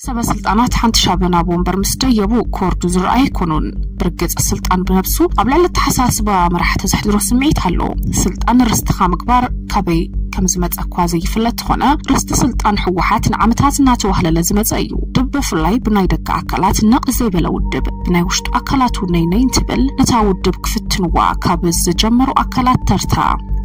ሰበ ስልጣናት ሓንቲ ሻበን ኣብ ወንበር ምስ ደየቡ ክወርዱ ዝረኣዩ ኣይኮኑን። ብርግጽ ስልጣን ብነብሱ ኣብ ልዕሊ ኣተሓሳስባ መራሕቲ ዘሕድሮ ስምዒት ኣሎ። ስልጣን ርስትኻ ምግባር ካበይ ከምዝመጸ እኳ ዘይፍለጥ ተኾነ ርስቲ ስልጣን ህወሓት ንዓመታት እናተዋህለለ ዝመጸ እዩ። ድብ ብፍላይ ብናይ ደገ ኣካላት ነቕ ዘይበለ ውድብ ብናይ ውሽጡ ኣካላቱ ነይ ነይ እንትብል ነታ ውድብ ክፍትንዋ ካብ ዝጀመሩ ኣካላት ተርታ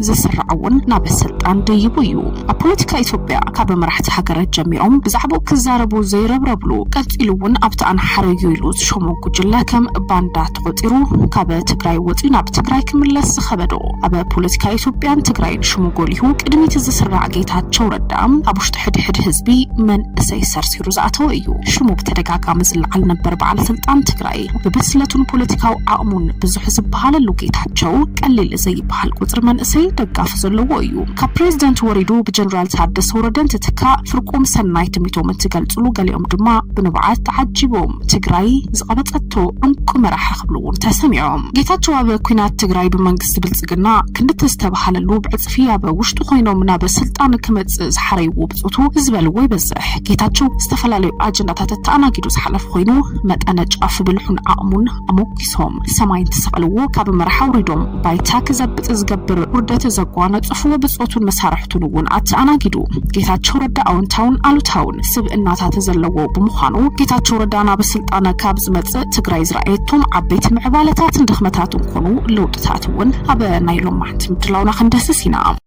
ዝስራዕ'ውን ናብ ስልጣን ደይቡ እዩ። ኣብ ፖለቲካ ኢትዮጵያ ካብ መራሕቲ ሃገራት ጀሚሮም ብዛዕብኡ ክዛረቡ ዘይረብረብሉ ቀጺሉ እውን ኣብቲ ኣንሓረዩ ኢሉ ዝሾሞ ጉጅለ ከም ባንዳ ተቖጺሩ ካብ ትግራይ ወጺኡ ናብ ትግራይ ክምለስ ዝኸበዶ ኣብ ፖለቲካ ኢትዮጵያን ትግራይን ሽሙ ጎሊሁ ቅድሚቲ ዝስራዕ ጌታቸው ረዳ ኣብ ውሽጢ ሕድሕድ ህዝቢ መንእሰይ ሰርሲሩ ዝኣተወ እዩ። ሽሙ ብተደጋጋሚ ዝለዓል ነበር በዓል ስልጣን ትግራይ ብብስለቱን ፖለቲካዊ ዓቕሙን ብዙሕ ዝበሃለሉ ጌታቸው ቀሊል ዘይበሃል ቁጽሪ መንእሰይ ደጋፊ ዘለዎ እዩ። ካብ ፕረዚደንት ወሪዱ ብጀነራል ታደሰ ወረደ እንትትካእ ፍርቁም ሰናይ ትምኒቶም እንትገልፅሉ ገሊኦም ድማ ብንብዓት ተዓጂቦም ትግራይ ዝቐበፀቶ እንቁ መራሒ ክብሉ እውን ተሰሚዖም። ጌታቸው ኣብ ኲናት ትግራይ ብመንግስቲ ብልፅግና ክንዲ ተዝተብሃለሉ ብዕፅፊ ኣብ ውሽጡ ኮይኖም ናብ ስልጣን ክመፅእ ዝሓረይዎ ብፆቱ ዝበልዎ ይበዝሕ። ጌታቸው ዝተፈላለዩ ኣጀንዳታት ኣተኣናጊዱ ዝሓለፈ ኮይኑ መጠነ ጫፍ ብልሑን ዓቕሙን ኣሞኪሶም ሰማይ እንትሰቕልዎ ካብ መራሕ ኣውሪዶም ባይታ ክዘብጥ ዝገብር ውርደት ዘጓነጽፉ ብጾቱን መሳርሕቱን እውን ኣተኣናጊዱ። ጌታቸው ረዳ ኣወንታውን ኣሉታውን ስብእናታት ዘለዎ ብምዃኑ ጌታቸው ረዳ ናብ ስልጣን ካብ ዝመጽእ ትግራይ ዝረኣየቶም ዓበይቲ ምዕባለታትን ድኽመታትን ኮኑ ለውጥታት እውን ኣብ ናይ ሎማዕንቲ ምድላውና ክንደስስ ኢና።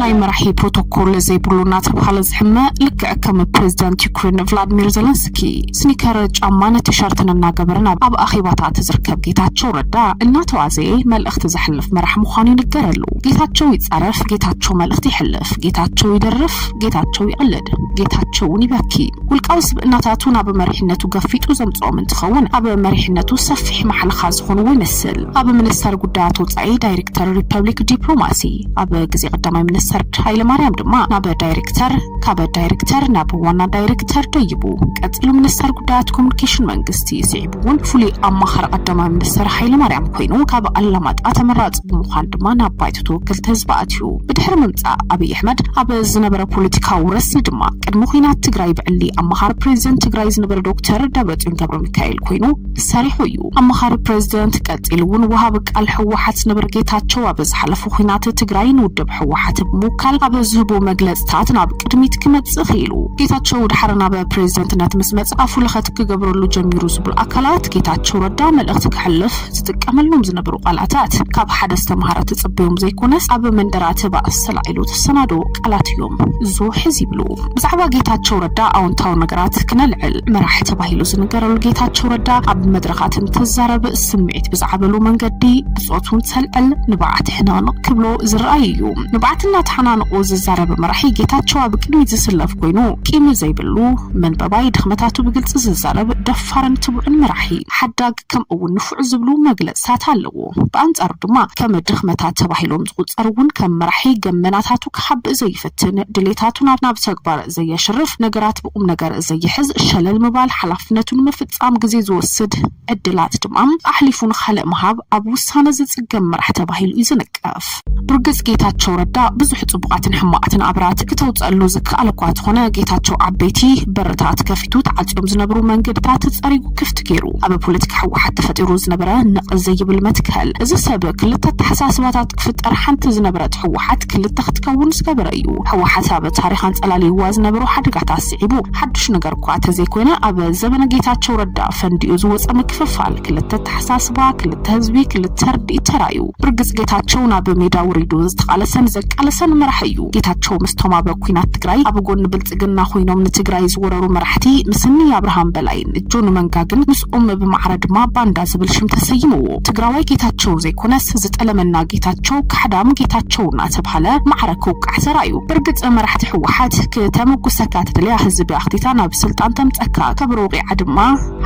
ናይ መራሒ ፕሮቶኮል ዘይብሉ እናተብሃለ ዝሕመ ልክዕ ከም ፕሬዚዳንት ዩክሬን ቭላድሚር ዘለንስኪ ስኒከር ጫማን ቲሸርትን እናገበረን ኣብ ኣኼባታት ዝርከብ ጌታቸው ረዳ እናተዋዘየ መልእኽቲ ዘሕልፍ መራሕ ምዃኑ ይንገረሉ። ጌታቸው ይጻረፍ፣ ጌታቸው መልእኽቲ ይሕልፍ፣ ጌታቸው ይደርፍ፣ ጌታቸው ይቕልድ፣ ጌታቸው እውን ይበኪ። ውልቃዊ ስብእናታቱ ናብ መሪሕነቱ ገፊጡ ዘምጽኦም እንትኸውን፣ ኣብ መሪሕነቱ ሰፊሕ ማሕለኻ ዝኾንዎ ይመስል። ኣብ ሚኒስተር ጉዳያት ወጻኢ ዳይሪክተር ሪፐብሊክ ዲፕሎማሲ፣ ኣብ ግዜ ቀዳማይ ሚኒስተር ሃይለማርያም ድማ ናብ ዳይሪክተር፣ ካብ ዳይሪክተር ናብ ዋና ዳይሪክተር ደይቡ። ቀጺሉ ሚኒስተር ጉዳያት ኮሙኒኬሽን መንግስቲ ስዒቡ። እውን ፍሉይ ኣማኻሪ ቀዳማይ ሚኒስትር ሃይለማርያም ኮይኑ ካብ ኣላማጣ ተመራፂ ብምዃን ድማ ናብ ባይቶ ተወከልቲ ህዝቢ ኣትዩ። ብድሕሪ ምምፃእ ኣብይ ኣሕመድ ኣብ ዝነበረ ፖለቲካዊ ረስኒ ድማ ቅድሚ ኲናት ትግራይ ብዕሊ ኣማኻሪ ፕሬዚደንት ትግራይ ዝነበረ ዶክተር ደብረፅዮን ገብረሚካኤል ኮይኑ ሰሪሑ እዩ። ኣማኻሪ ፕሬዚደንት ቀፂሉ እውን ወሃቢ ቃል ህወሓት ዝነበረ ጌታቸው ኣብ ዝሓለፈ ኲናት ትግራይ ንውድብ ህወሓት ብምውካል ኣብ ዝህቦ መግለፅታት ናብ ቅድሚት ክመፅእ ክኢሉ። ጌታቸው ድሓር ናብ ፕሬዚደንትነት ምስ መፅኣ ፍሉኸት ክገብረሉ ጀሚሩ ዝብሉ ኣካላት ጌታቸው ረዳ መልእኽቲ ከሕልፍ ዝጥቀመሎም ዝነበሩ ቃላታት ካብ ሓደ ዝተምሃረ ትጽበዮም ዘይኮነስ ኣብ መንደራ ተባእ ሰላዒሉ ተሰናደዎ ቃላት እዮም። እዞ ሕዚ ይብሉ ብዛዕባ ጌታቸው ረዳ ኣውንታዊ ነገራት ክነልዕል መራሒ ተባሂሉ ዝንገረሉ ጌታቸው ረዳ ኣብ መድረኻት እንትዛረብ ስምዒት ብዝዓበሉ መንገዲ ብጾቱ እንተልዕል ንብዓት ሕንቕንቕ ክብሎ ዝረኣይ እዩ። ንብዓት እናተሓናንቑ ዝዛረብ መራሒ ጌታቸው ኣብ ቅድሚት ዝስለፍ ኮይኑ ቂም ዘይብሉ መንጠባይ ድኽመታቱ ብግልጺ ዝዛረብ ደፋርን ትቡዕን መራሒ፣ ሓዳግ፣ ከምኡ'ውን ንፉዕ ዝብሉ መግለጺታት ኣለዎ። ብኣንጻሩ ድማ ከም ድኽመታት ተባሂሎም ዝቑጸሩ እውን ከም መራሒ ገመናታቱ ክሓብእ ዘይፍትን፣ ድሌታቱ ናብ ናብ ተግባር ዘየሽርፍ፣ ነገራት ብቑምነገር ዘይሕዝ፣ ሸለል ምባል፣ ሓላፍነቱ ንምፍጻም ግዜ ዝወስድ፣ ዕድላት ድማ ኣሕሊፉ ንኻልእ ምሃብ፣ ኣብ ውሳነ ዝጽገም መራሕ ተባሂሉ እዩ ዝንቀፍ። ብርግጽ ጌታቸው ረዳ ብዙሕ ጽቡቓትን ሕማቓትን ኣብራት ክተውጸኣሉ ዝከኣል እኳ ተኾነ ጌታቸው ዓበይቲ በርታት ከፊቱ ተዓጽዮም ዝነብሩ መንገድታት ጸሪጉ ክፍቲ ጌሩ ኣብ ፖለቲካ ሕወሓት ተፈጢሩ ዝነበረ ነቕ ዘይብል መትከል እዚ ሰብ ክልተ ኣተሓሳስባታት ክፍጠር ሓንቲ ዝነበረት ሕወሓት ክልተ ክትከውን ዝገበረ እዩ ሕወሓት ኣብ ታሪኽ ኣንጸላልይዋ ዝነበሮ ሓደጋታት ስዒቡ ሓዱሽ ነገር እኳ ተዘይኮይነ ኣብ ዘበነ ጌታቸው ረዳ ፈንዲኡ ዝወጸ ምክፍፋል ክልተ ኣተሓሳስባ ክልተ ህዝቢ ክልተ ርድኢት ተራዩ ብርግጽ ጌታቸው ናብ ሜዳ ውሪዱ ዝተቃለሰን ዘቃለሰን መራሒ እዩ። ጌታቸው ምስቶም ኣብ ኩናት ትግራይ ኣብ ጎኒ ብልጽግና ኮይኖም ንትግራይ ዝወረሩ መራሕቲ ምስ እኒ ኣብርሃም በላይን ጆን መንጋግን ምስኦም ብማዕረ ድማ ባንዳ ዝብል ሽም ተሰይምዎ። ትግራዋይ ጌታቸው ዘይኮነስ ዝጠለመና ጌታቸው ካሕዳም ጌታቸው እናተብሃለ ማዕረ ክውቃዕ ሰራዩ። ብርግጽ መራሕቲ ህወሓት ክተመጉሰካ ትደልያ ህዝቢ ኣኽቲታ ናብ ስልጣን ተምጸካ ከብሮ ወቒዓ ድማ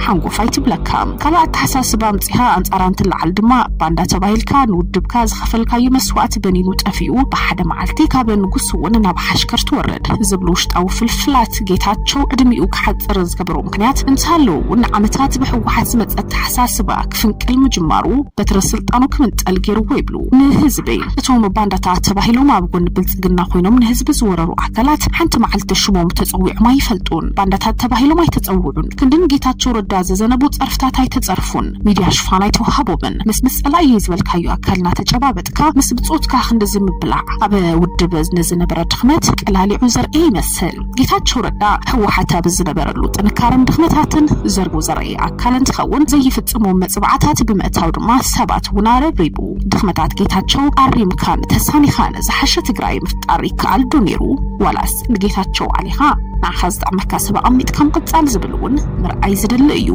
ሓንጎፋይ ትብለካ። ካልእ ኣተሓሳስባ ኣምጺኻ ኣንጻራ እንትለዓል ድማ፣ ባንዳ ተባሂልካ ንውድብካ ዝኸፈልካዩ መስዋእቲ በኒኑ ጠፊኡ ብሓደ መዓልቲ ካብ ንጉስ'ውን ናብ ሓሽከር ትወርድ ዝብሉ ውሽጣዊ ፍልፍላት ጌታቸው ዕድሚኡ ክሓጽር ዝገበሮ ምክንያት እንተሃለወ'ውን ንዓመታት ብህወሓት ዝመጸ ኣተሓሳስባ ክፍንቅል ምጅማሩ በትረ ስልጣኑ ክምንጠል ገይርዎ ይብሉ ንህዝቢ። እቶም ባንዳታት ተባሂሎም ኣብ ጎኒ ብልጽግና ኮይኖም ንህዝቢ ዝወረሩ ኣካላት ሓንቲ መዓልቲ ሽሞም ተጸዊዖም ኣይፈልጡን። ባንዳታት ተባሂሎም ኣይተጸውዑን። ክንዲ ንጌታቸው ረዳ ዝዘነቡ ፀርፍታት ኣይተፀርፉን፣ ሚድያ ሽፋን ኣይተውሃቦምን፣ ምስ ምስ ፀላኢ እየ ዝበልካዮ ኣካል እናተጨባበጥካ ምስ ብፆትካ ክንድዚ ምብላዕ ኣብ ውድብ ንዝነበረ ድኽመት ቀላሊዑ ዘርእየ ይመስል። ጌታቸው ረዳ ህወሓት ኣብ ዝነበረሉ ጥንካረን ድኽመታትን ዘርጉ ዘርእየ ኣካል እንትኸውን ዘይፍፅሞም መፅብዓታት ብምእታው ድማ ሰባት እውን ኣረብሪቡ። ድኽመታት ጌታቸው ኣሪምካን ተሳኒኻን ዝሓሸ ትግራይ ምፍጣር ይከኣል ዶ ነይሩ ዋላስ? ንጌታቸው ዓሊኻ ንዓኻ ዝጠቕመካ ሰብ ኣቐሚጥካ ምቕፃል ዝብል እውን ምርኣይ ዝደሊ እዩ።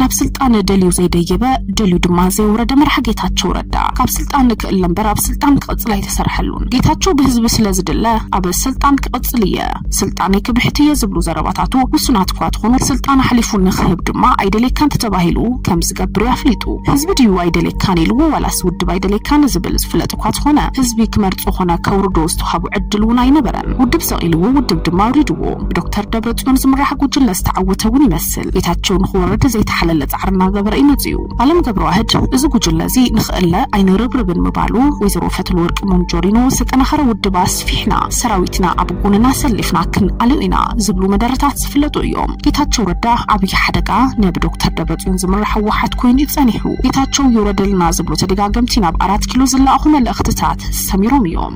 ናብ ስልጣን ደልዩ ዘይደየበ ደልዩ ድማ ዘይወረደ መራሒ ጌታቸው ረዳ ካብ ስልጣን ክእለ እምበር ኣብ ስልጣን ክቕፅል ኣይተሰርሐሉን። ጌታቸው ብህዝቢ ስለዝድለ ኣብ ስልጣን ክቕፅል እየ፣ ስልጣነይ ክብሕት እየ ዝብሉ ዘረባታቱ ውሱናት እኳ ትኾኑ ስልጣን ኣሕሊፉ ንክህብ ድማ ኣይደልየካን ተተባሂሉ ከምዝገብር እዩ ኣፍሊጡ። ህዝቢ ድዩ ኣይደልየካን ኢልዎ ዋላስ ውድብ ኣይደልየካን ዝብል? ዝፍለጥ እኳ ተኾነ ህዝቢ ክመርፆ ኾነ ከውርዶ ዝተውሃቦ ዕድል እውን ኣይነበረን። ውድብ ሰቒልዎ ውድብ ድማ ኣውሪድዎ። ብዶክተር ደብረፅዮን ዝምራሕ ጉጅለ ዝተዓወተ እውን ይመስል። ጌታቸው ንኽወርድ ዘይተሓለለ ፃዕሪ እናገበረ እዩ መፂኡ። ኣለም ገብረዋህድ እዚ ጉጅለ እዚ ንኽእለ ኣይንርብርብን ምባሉ ወይዘሮ ፈትለወርቅ ሞንጆሪኖ ዝተጠናኸረ ውድብ ኣስፊሕና ሰራዊትና ኣብ ጎንና ኣሰሊፍና ክንኣልዮ ኢና ዝብሉ መደረታት ዝፍለጡ እዮም። ጌታቸው ረዳ ዓብዪ ሓደጋ ናይ ብዶክተር ደብረፅዮን ዝምራሕ ህወሓት ኮይኑ እዩ ፀኒሑ። ጌታቸው ይውረደልና ዝብሉ ተደጋገምቲ ናብ ኣራት ኪሎ ዝለኣኹ መልእኽትታት ሰሚሮም እዮም።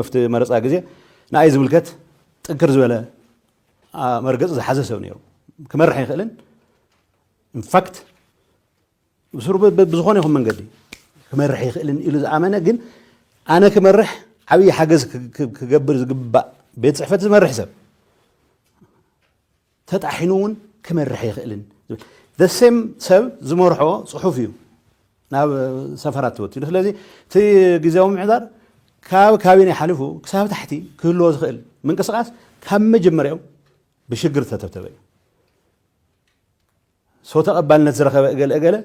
ኣብቲ መረፃ ግዜ ንኣይ ዝምልከት ጥንክር ዝበለ መርገፂ ዝሓዘ ሰብ ነይሩ ክመርሕ ይኽእልን ኢንፋክት ብስሩ ብዝኾነ ይኹን መንገዲ ክመርሕ ይኽእልን ኢሉ ዝኣመነ ግን ኣነ ክመርሕ ዓብዪ ሓገዝ ክገብር ዝግባእ ቤት ፅሕፈት ዝመርሕ ሰብ ተጣሒኑ እውን ክመርሕ ኣይኽእልን ዝብል the same ሰብ ዝመርሖ ፅሑፍ እዩ ናብ ሰፈራት ተወቲሉ። ስለዚ እቲ ግዜያዊ ምምሕዳር ካብ ካቢኔ ሓሊፉ ክሳብ ታሕቲ ክህልዎ ዝኽእል ምንቅስቓስ ካብ መጀመርያኡ ብሽግር ዝተተብተበ እዩ። ሰው ተቐባልነት ዝረኸበ እገለ እገለ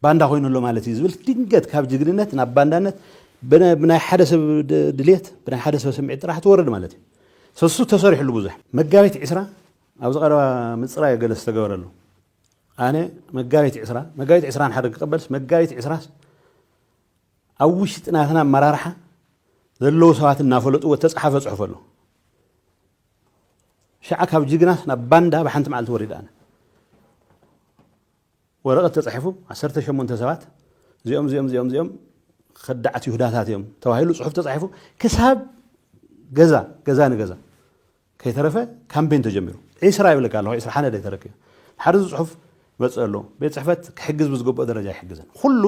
ባንዳ ኮይኑ ኣሎ ማለት እዩ ዝብል ድንገት ካብ ጅግንነት ናብ ባንዳነት ብናይ ሓደ ሰብ ድሌት ብናይ ሓደ ሰብ ስምዒት ጥራሕ ትወርድ ማለት እዩ ሰሱ ተሰሪሕሉ ብዙሕ መጋቢት ዕስራ ኣብዚ ቀረባ ምፅራይ ገለ ዝተገበረሉ ኣነ መጋቢት ዕስራ መጋቢት ዕስራ ሓደ ክቀበልስ መጋቢት ዕስራስ ኣብ ውሽጢ ናትና ኣመራርሓ ዘለዉ ሰባት እናፈለጥዎ ተፅሓፈ ፅሑፍ ኣሎ ሽዓ ካብ ጅግናስ ናብ ባንዳ ብሓንቲ መዓልቲ ወሪደ ኣነ። ወረቐት ተጻሒፉ ዓሰርተ ሸሞንተ ሰባት እዚኦም እዚኦም እዚኦም እዚኦም ከዳዓት ይሁዳታት እዮም ተባሂሉ ጽሑፍ ተጻሒፉ ክሳብ ገዛ ገዛ ንገዛ ከይተረፈ ካምፔን ተጀሚሩ ዒስራ ይብለካ ኣለኹ ዒስራ ሓነደ ተረኪቡ ሓደ ጽሑፍ መጽእ ኣሎ ቤት ጽሕፈት ክሕግዝ ብዝግብኦ ደረጃ ኣይሕግዝን ኹሉ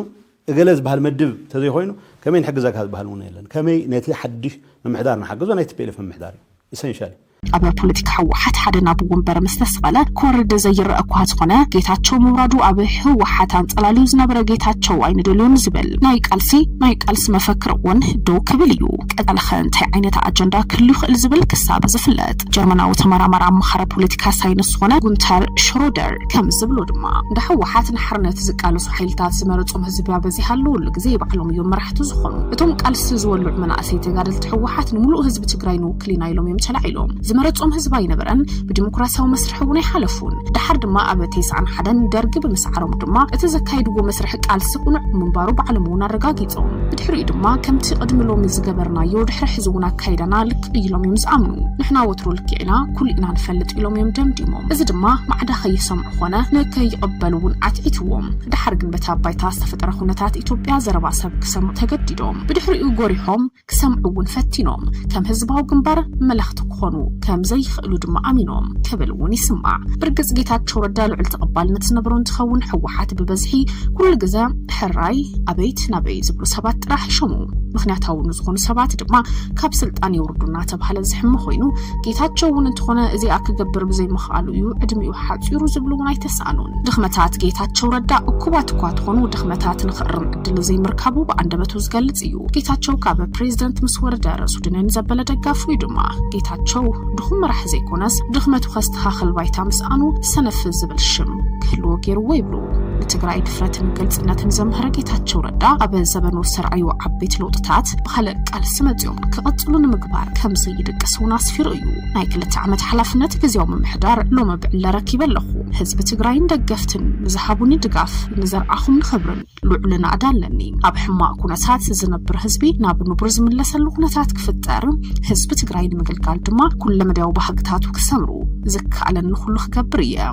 እገለ ዝበሃል መድብ ተዘይኾይኑ ከመይ ንሕግዘካ ዝበሃል እውን የለን ከመይ ነቲ ሓድሽ ምምሕዳር ንሓግዞ ናይ tplf ምምሕዳር እዩ ኢሰንሻል እዩ። ኣብ ፖለቲካ ህወሓት ሓደ ናብ ወንበር ምስ ተሰቐለ ክወርድ ዘይረእ እኳ ዝኾነ ጌታቸው ምውራዱ ኣብ ህወሓት ኣንጸላልዩ ዝነበረ ጌታቸው ኣይንደልዮን ዝብል ናይ ቃልሲ ናይ ቃልሲ መፈክር እውን ደው ክብል እዩ። ቀጻሊኸ እንታይ ዓይነት ኣጀንዳ ክህሉ ይኽእል ዝብል ክሳብ ዝፍለጥ ጀርመናዊ ተመራማሪ ኣማኻሪ ፖለቲካ ሳይንስ ዝኾነ ጉንተር ሽሮደር ከም ዝብሎ ድማ እንዳ ህወሓት ንሓርነት ዝቃለሱ ሓይልታት ዝመረፆም ህዝቢ ኣበዚሃ ኣለወሉ ግዜ ባዕሎም እዮም መራሕቲ ዝኾኑ እቶም ቃልሲ ዝወልዑ መናእሰይ ተጋደልቲ ህወሓት ንምሉእ ህዝቢ ትግራይ ንውክል ኢና ኢሎም እዮም ተላዒሎም ዝመረፆም ህዝቢ ኣይነበረን ብዲሞክራሲያዊ መስርሕ እውን ኣይሓለፉን ደሓር ድማ ኣብ ቴስዓን ሓደን ደርጊ ብምስዓሮም ድማ እቲ ዘካይድዎ መስርሕ ቃልሲ ቁኑዕ ምንባሩ ባዕሎም እውን ኣረጋጊፆም ብድሕሪኡ ድማ ከምቲ ቅድሚ ሎሚ ዝገበርናዮ ድሕሪ ሕዚ እውን ኣካይዳና ሓቂ ኢሎም እዮም ዝኣምኑ ንሕና ወትሩ ልክዕ ኢና ኩሉ ኢና ንፈልጥ ኢሎም እዮም ደምዲሞም እዚ ድማ ማዕዳ ከይሰምዑ ኮነ ንከይቕበሉ እውን ኣትዒትዎም ድሓር ግን በታ ባይታ ዝተፈጠረ ኩነታት ኢትዮጵያ ዘረባ ሰብ ክሰምዑ ተገዲዶም ብድሕሪኡ ጎሪሖም ክሰምዑ እውን ፈቲኖም ከም ህዝባዊ ግንባር መለኽቲ ክኾኑ ከም ዘይኽእሉ ድማ ኣሚኖም ክብል እውን ይስማዕ ብርግፅ ጌታቸው ረዳ ልዑል ተቐባልነት ዝነበሮ እንትኸውን ህወሓት ብበዝሒ ኩሉ ግዘ ሕራይ ኣበይት ናበይ ዝብሉ ሰባት ጥራሕ ይሾሙ ምክንያታዊ ንዝኾኑ ሰባት ድማ ካብ ስልጣን የውርዱ እናተባህለ ዝሕመ ኮይኑ ጌታቸው እውን እንተኾነ እዚኣ ክገብር ብዘይምኽኣሉ እዩ ዕድሚኡ ሓፂሩ ዝብሉ እውን ኣይተሰኣኑን። ድኽመታት ጌታቸው ረዳ እኩባት እኳ ተኾኑ ድኽመታት ንኽእርም ዕድል ዘይምርካቡ ብኣንደበቱ ዝገልፅ እዩ። ጌታቸው ካብ ፕሬዚደንት ምስ ወረደ ርእሱ ድንን ዘበለ ደጋፉ እዩ ድማ። ጌታቸው ድኹም መራሒ ዘይኮነስ ድኽመቱ ከስተኻኽል ባይታ ምስኣኑ ሰነፍ ዝብል ሽም ክህልዎ ገይርዎ ይብሉ። ንትግራይ ድፍረትን ግልፅነትን ዘምሀረ ጌታቸው ረዳ ኣብ ዘበኑ ዝሰርዐዮ ዓበይቲ ለውጥታት ብካልእ ቃልሲ መፂኦም ክቕፅሉ ንምግባር ከምዘ ይድቅስ እውን ኣስፊሩ እዩ ናይ ክልተ ዓመት ሓላፍነት ግዜያዊ ምምሕዳር ሎሚ ብዕለ ረኪበ ኣለኹ ህዝቢ ትግራይን ደገፍትን ንዝሃቡኒ ድጋፍ ንዘርዓኹም ንኽብርን ልዑል ናእዳ ኣለኒ ኣብ ሕማቕ ኩነታት ዝነብር ህዝቢ ናብ ንቡር ዝምለሰሉ ኩነታት ክፍጠር ህዝቢ ትግራይ ንምግልጋል ድማ ኩለ መዳያዊ ባህግታቱ ክሰምሩ ዝከኣለኒ ኩሉ ክገብር እየ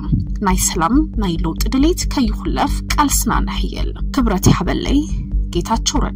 ናይ ሰላም ናይ ለውጢ ድሌት ከይኹለፍ ቃልስና ነሕየል ክብረት ይሓበለይ ጌታቸው ረዳ